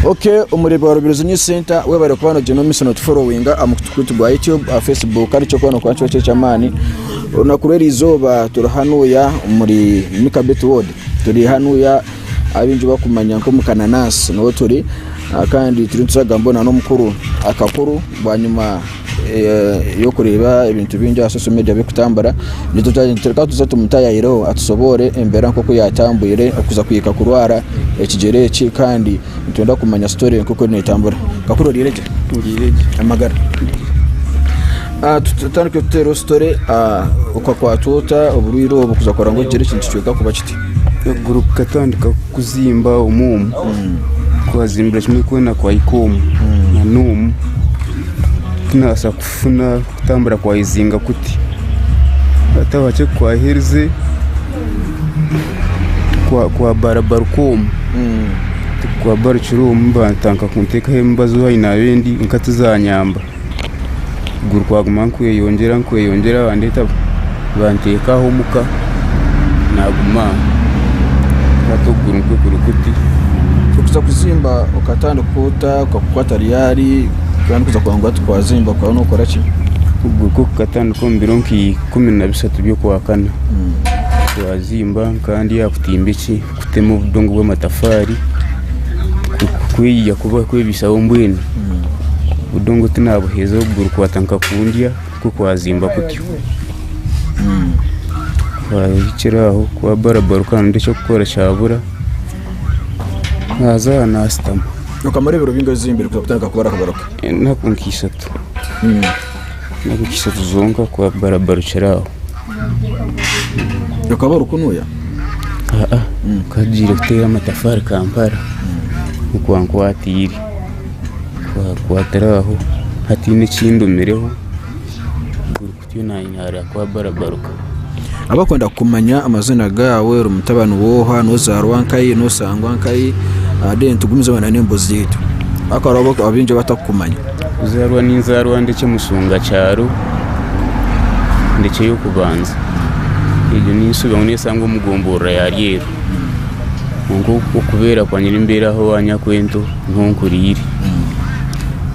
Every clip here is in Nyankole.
Okay, omureebi wa Rubirizi News Center webare kuba nogyenda omu misono tuforowinga aha mukutu gwaitu gwa YouTube aha Facebook kandi kyo kubona kuba nikyo ky'eky'amaani olunaku rw'erizooba turi hanuya omuri Mika Bit Ward turi hanuya abaingi barikumanya nk'omukananansi niho turi kandi turiyo nituraga mbwenu n'omukuru akakuru bwanyima y'okureeba ebintu bingi aha social media birikutambura nitureka tuze tumutayayireho atusoboore embeera nk'oku yaatambwire okuza kuhika kurwara ekigyere eki kandi Nitwenda kumanya story eyo nk'oku eriyo netambura. Kakuru oriire gye? Ndiire gye. Amagara? Ah, tu- tutandike tuteereho story, ah, okakwatwa ota oburwaire obu kuza kora ngu ogire ekintu kicweka kuba kiti? Okuguru kukatandika kuzimba omu omu. Kwazimbira kimwe kwena kwahika omu. Na n'omu tinabaasa kufuka. Kufuna kutambura kwa Izinga kuti Atabakye kwaherize kwa Barabarukomu kwa Barukiromu bantanka kuntekaho emibazi owayi nabendi kwonka tizanyamba okuguru kwaguma nikweyongyera nikweyongyera bandeta banteka aho omuka naguma aho hati okuguru nikwo kuri kuti. Kuza kuzimba okatandika ota okakukwata ryari? Twaba nituza kubanguura tukwazimba kukaba nokora ki? Okwo kukatandika omu biro nka ikumi na bishatu by'okwakana twazimba nkaba ndi aha kutimba eki kutema obudongo bw'amatafaari kweyiya kuba kwebaisaho mbwenu obudongo tinabuheeza obugurukwata nka kundya nikwo kwazimba kutyo kwahikire aho kuba barabara okaba noyenda eky'okukora kyabura Naaza aha naashutama. Okamara ebiro bingahi ozimbire kuhika kutandika kubara kugaruka? Enaku nka ishatu. Enaku nka ishatu zonka kuba barabarukira aho. Okaba orikunuya? Aa, nkagiire kuteera amatafaari Kampala nikwo kwankwatiire. Kwankwatira aho hatiine ekindumireho. Abakwenda kumanya amazina gaawe ori mutabani w'oha nozaarwa nkayi nosangwa nkayi then tugumize na n'embozi yaitu hakuba hariho abaingi abatakukumanya. Kuzaarwa ninzaarwa Ndekye Mushunga kyaro Ndekye y'okubanza egyo ninsuba ngu nesangwa omu gomborora ya Ryeru kwonka okubeera kwangye nimbeera aho owa Nyakwento niho nkuriire.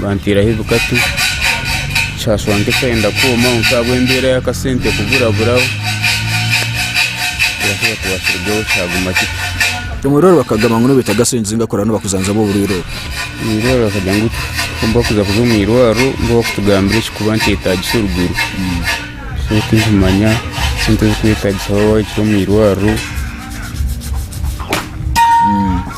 banteeraho ebikatu kyashusha nk'ekyayenda kwooma kwonka ahabw'embeera y'akasente kuburaburaho ekiraabe kibasirugaho kyaguma kityo. Omurwaire bakagamba ngu nibeetaaga sente zinga kuraabe nibakujanjaba oburwaire obwo? Omurwaire bakagira ngu kwonka kuza kuza omu irwariro nibo bakutugambira ekirikuba nikyetaagisa orugwiro so tindimanya sente ezirikwetaagisa waaba ohikire omu irwariro.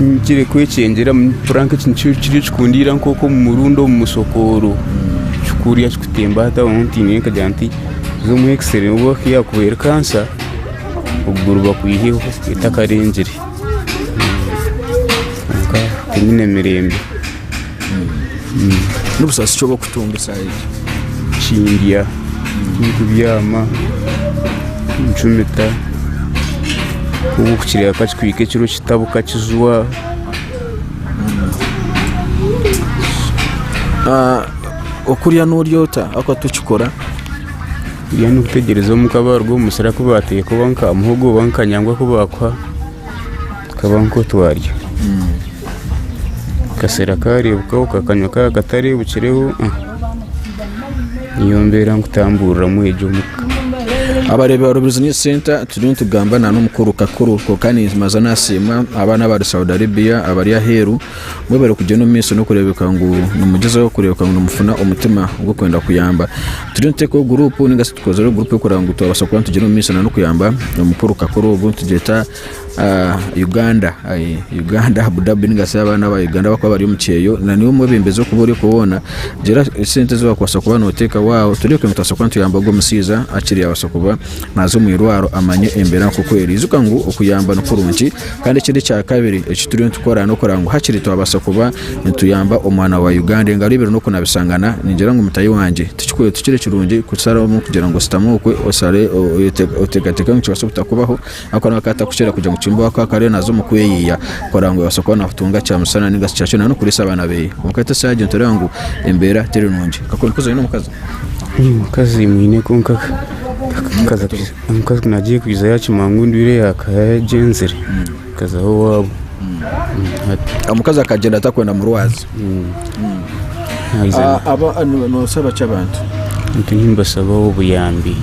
Nikigira kwekyengera mpura nk'ekintu nikyo kikundiira nk'omurundi omu musokooro kikurya kikutemba hati aho ntiine nkagira nti za omu x-ray oba ku yaakubaire kansa okuguru bakwiheho etakarengire kwonka tihaine mirembe. N'obusaasi ki obu orikutunga eshaaha egi? Kindya, ndikubyama, ncumita, kwonka okukireba ka kihika ekiro kitabuka kijwa. Okurya nooryota ariko tokikora? Okurya n'okwitegyereza omuka baaruga omu musiri aku baateeka oba nka muhogo oba nka kanyangwa aku baakuha. Tukaba nk'oku twarya. Akaseera kaareebukaho kakanywa kaba katareebukireho, niyo mbeera nkutambuuriramu egyo omuka. Abareebi ba Rubirizi Youth Centre turiyo nitugamba na n'omukuru kakuru kwonka nibaza nasiimwa abaana abari Saudi Arabia abari aheeru mbwenu barikugyenda omu maisho n'okureebeka ngu nimugyezaho kureebeka ngu nimufuna omutima gw'okwenda kuyamba. Turiyo nituteekaho guruupu ninga shi tukozire guruupu erikureeba ngu twabaasa kuba nitugyera omu maisho na n'okuyamba omukuru kakuru ogu nitugyeta Uganda Uganda Abu Dhabi ninga shi abaana ba Uganda abakuba bari omu kyeyo na niiwe omwebembezi orikuba ori okwo woona gira esente ezi wakubaasa kuba noteekaho aho tureebe kunu nitubaasa kuba nituyamba ogwo omushaija akiri yaabaasa kuba naaza omu irwaro amanye embeera nk'oku eri ijuka ngu okuyamba ni kurungi kandi ekindi ekya kabiri eki turiyo nitukora n'okureeba ngu hakiri twabaasa kuba nituyamba omwana wa Uganda engaro ibiri n'oku nabishangana ningira ngu mutaahi wangye tikikuru tikiri kirungi kusharamu kugira ngu oshutame okwe oshare oteekateeke ngu kibaase obutakubaho Ako nako akatabo kukira kugira ngu Kimbowa ku akaba ariyo naaza omu kweyiya kureeba ngu yaabaasa kuba naatunga kyamisana nainga shi kyakiro nari kuriisa abaana be. Kwonka hati eshaaha egi nitureeba ngu embeera teri nungi. Kakuba orikuza oine omukazi? Omukazi mwine kwonka omukazi ku naagiire kwiija yaakimanya ngu endwaire yaaba yagyenzire, akazaho owaabo. Omukazi akagyenda atakwenda murwaza? Haza Ah, aba- ah, no- nosaba ki abantu nti nimbasaba obuyambi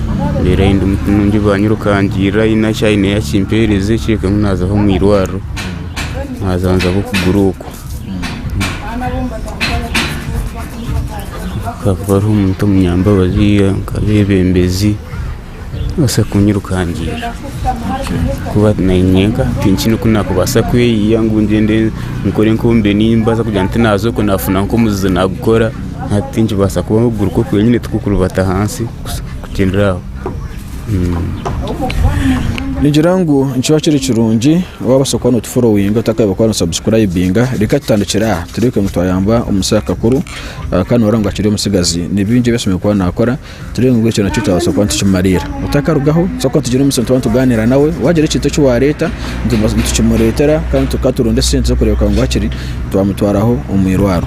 reero ayi ndi muti nungi banyirukangirira aine eki aine yakimpeereza ekihikamu naazaho omu irwariro naaza nzaba okugura okwo hakaba hariho omuntu omunyambabazi nka abeebembezi Nobaasa kunyirukangiira ahakuba naanye nyenka tinkine oku nakubaasa kweyiya ngu ngyende nkore nk'obu mbiire nimbaasa kugira nti naaza okwe naafuna nk'omuzizi naagukora hati tinkibaasa kuba okuguru kuri nyine tikukurubata ahansi kugyendera aho. Ningira ngu nikiba kiri kirungi waabaasa kuba notuforowinga otakabaire kuba nosabusikurayibinga reka tutandikire aha tureebeke ngu twayamba omusaija kakuru kandi nooreeba ngu akiri omutsigazi nibingi ebi aine kuba naakora tureebe ngu ekyo nakyo twabaasa kuba nitukimariira. Otakarugaho tubaasa kuba twine omusyo nituba nitugaaniira nawe, waagira ekintu eki waareeta nitukimureetera kandi tuka turonda esente z'okureeba ngu hakiri twamutwaraho omu irwaro.